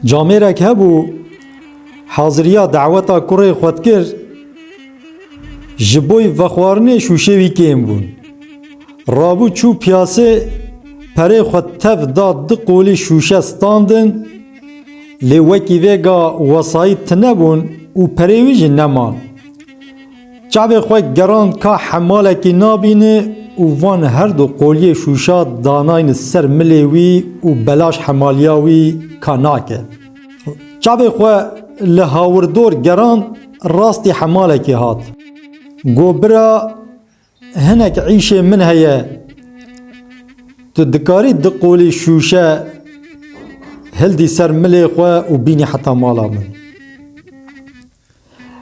Camêrek hebû haziriya daweta kurê xwe dikir ji boî vexwarinê şûşê wî kêm bûn. Rabû çû piyasê perê xwe tev da du qolî şûşe standin lê wekî vêga wesayît tine bûn û perê wî jî neman. Çavê xwe gerand ka hemalekî nabîne û van her du qoliyê şûşa danayne ser milê wî û belaş hemaliya wî ka nake. Çavê xwe li hawirdor gerand rastî hemalekê hat. Got bira hinek îşê min heye tu dikarî du qolî şûşe hildî ser milê xwe û bînî heta mala min.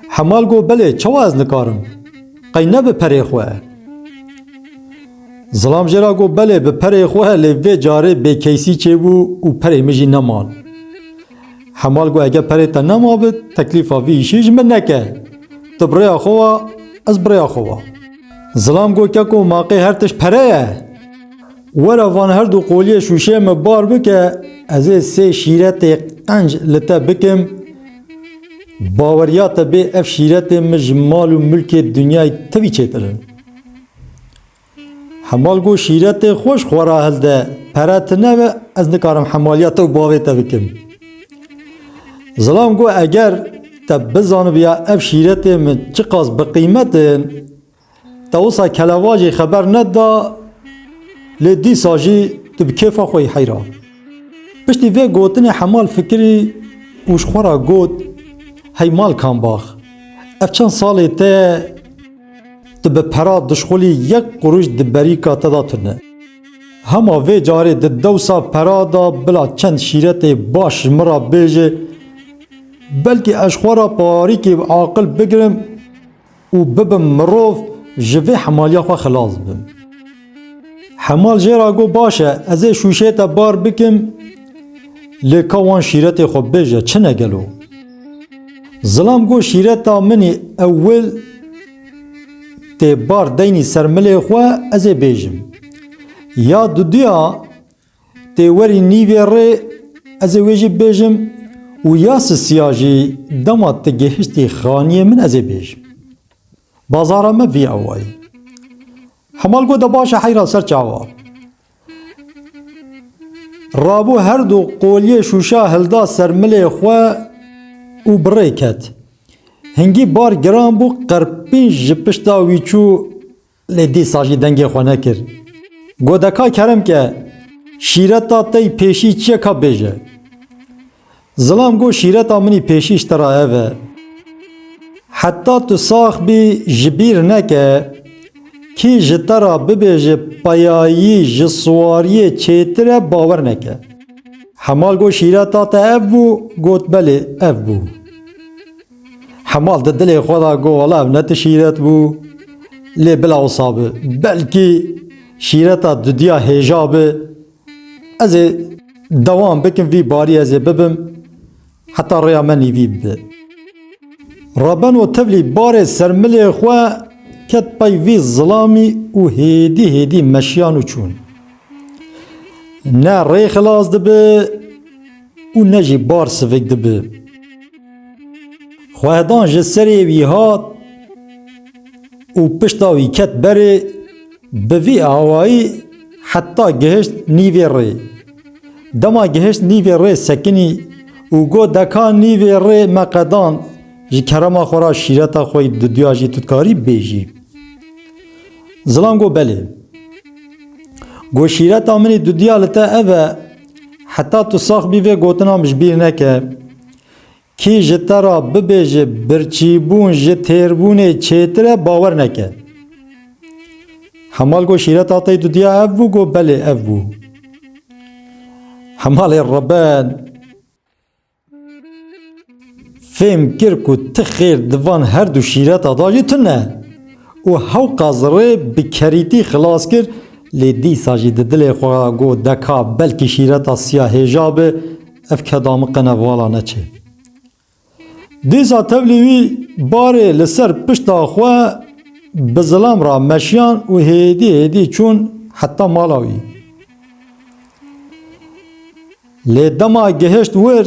Hemal got, Belê, çawa ez nikarim? Qey ne bi perê xwe e? Zilam jê re got, Belê, bi perê xwe e lê vê carê bêkeysî çêbû û perê min jî neman. Hemal got, Eger perê te nemabit, teklîfa vî îşê ji min neke. Tu bi rêya xwe wa, ez bi rêya xwe wa. Zilam got, Keko, maqê her tişt pere ye. Were van her du qoliyê şûşeyê min bar bike, ez ê sê şîretê qenc li te bikim, Baweriya te bê ev şîretê min ji mal û milkê dinyayê tevî çêtir in. Hemal got şîretê xwe ji xwe re hilde, pere tune be ez nikarim hemaliya te û bavê te bikim. Zilam got eger te bizanibiya ev şîretê min çiqas biqîmet in, Te wisa kelevacê xeber neda lê dîsa jî tu bi kêfa xwe yî heyran. Piştî vê gotinê Hemal fikirî û ji xwe re got, Hey mal kambax, ev çend salê te ye tu bi pera dişxulî yek qurûş di berîka te de tune. Hema vê carê di dewsa pera de bila çend şîretê baş ji min re bêje belkî ez ji xwe re parîkê aqil bigirim. û bibim mirov ji vê hemaliya xwe xilas bim. Hemal jê ra got baş e ez ê şûşê te bar bikim lê ka wan şîretê xwe bibêje çi ne gelo? Zilam got şîreta minî ewil tê bar deynî ser milê xwe ez ê bêjim. Ya duduya Tê werî nîvê rê ez ê wê jî bêjim û ya sisiya jî dema tu gihiştî xaniyê min ez ê bêjim. Bazara me vî awayî. Hemal gote baş e heyra ser çawa. Rabû her du qoliyê şûşa hilda ser milê xwe û bi rê ket. Hingî bar giran bû qerpînc ji pişta wî çû Lê dîsa jî dengê xwe nekir. Got deka kerem ke şîreta te yî pêşî çi ye ka bêje. Zilam got şîreta min yî pêşî ji te re ev e. Heta tu sax bî ji bîr neke kî ji te re bibêje peyayî ji siwariyê çêtir e bawer neke. Hemal got şîreta te ev bû? Got belê ev bû. Hemal di dilê xwe da got wala ev ne tu şîret bû. Lê bila wisa bi. Belkî şîreta dudiya hêja bi. Ez ê dewam bikim vî barî ez ê bibim heta rêya me nîvî bi. Rabeno tevlî barê sermilê xwe ket pey vî zilamî û hêdî hêdî meşiyan û çûn. Ne rê xilas dibi. û ne jî bar sivik dibi. Xwehedan ji serê wî hat û pişta wî ket berê, bi vî awayî heta gihişt nîvê rê. Dema gihişt nîvê rê sekinî û got deka nîvê rê me qedand ji kerema xwe ra şîreta xwe yî diduya jî tu dikarî bêjî. Zilam got belê. Got şîreta min yî diduya li te ev e, Heta tu sax bî vê gotina min ji bîr neke. Kî ji te re bibêje birçîbûn ji têrbûnê çêtir e bawer neke. Hemal got şîreta te dudiya ev bû got belê ev bû. Hemalê Reben. Fêm kir ku ti xêr di van her du şîreta de jî tune û hewqa zirê bi kerîtî xilas kir lê dîsa jî di dilê xwe de got deka belkî şîreta siya hêja be ev ke damiqene vala neçê. Dîsa tevlî wî barê li ser pişta xwe bi zilam re meşiyan û hêdî hêdî çûn heta mala wî. Lê dema gihişt wir,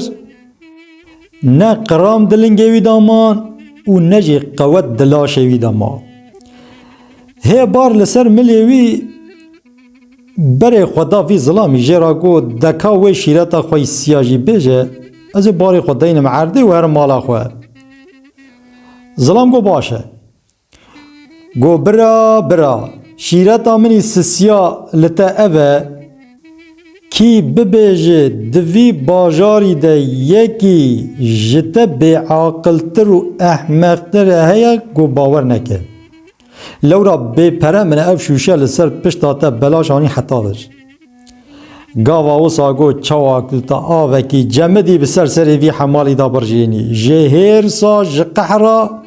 ne qiram di lingê wî de man û ne jî qewet di laşê wî de ma. Hê bar li ser milê wî berê xwe da vî zilamî jê re got, Deka wê şîreta xwe yî siya jî bêje, ez ê barê xwe deynim erdê û herim mala xwe. Zilam got, Baş e. Go bira bira, şîreta min î sisiya li te ev e, kî bibêje di vî bajarî de yekî ji te bêaqiltir û ehmeqtir heye go bawer neke. Lewra bêpere min ev şûşe li ser pişta te belaş anî heta vir. Gava wisa got çawa ku ta avekî cemidî bi ser serê vî hemalî da birjênî. Ji hêrsa, ji qehra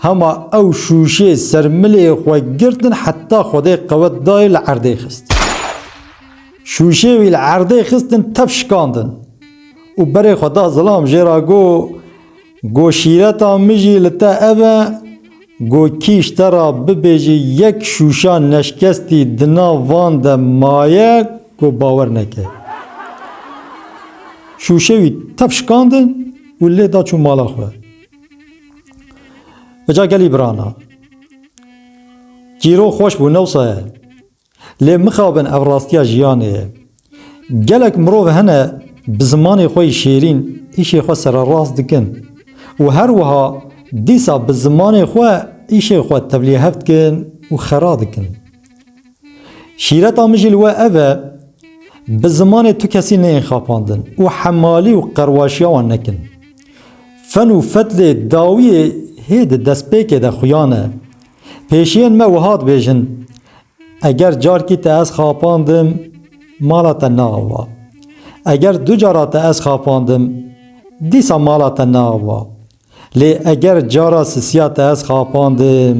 hema ew şûşê ser milê xwe girtin heta Xwedê qewet dayê li erdê xist. Şûşê wî li erdê xistin tev şikandin û berê xwe da zilam jê re got, Go şîreta min jî li te ev e, go kîj te ra bibêjî yek şûşa neşkestî di nav van de maye ku bawer neke. Şûşe wî tev şikandin û lê da çû mala xwe. Bi ca gelî birana. Cîro xweş bû, ne wisa ye. Lê mixabin ev rastiya jiyanê ye. Gelek mirov hene bi zimanê xwe yê şêrîn îşê xwe sererast dikin û her wiha dîsa bi zimanê xwe îşê xwe tevlîhev dikin û xera dikin. Şîreta min jî li we ev e, bi zimanê tu kesî neyên xapandin û hemalî û qerwaşiya wan nekin. Fen û fedlê dawiyê hê di destpêkê de xuyan e. Pêşiyên me wiha dibêjin, Eger carkî te ez xapandim, mala te naava. Eger du cara te ez xapandim, dîsa mala te naava. Lê eger cara sisiya te ez xapandim,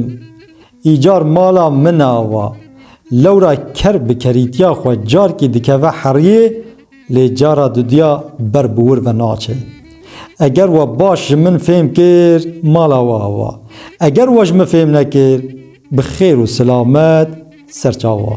îcar mala min ava. Lewra ker bi kerîtiya xwe carkî dikeve heriyê Lê cara dudiya ber bi wir ve naçe. Eger we baş ji min fêm kir, mala we ava. Eger we ji min fêm nekir, bi xêr û silamet ser çawa.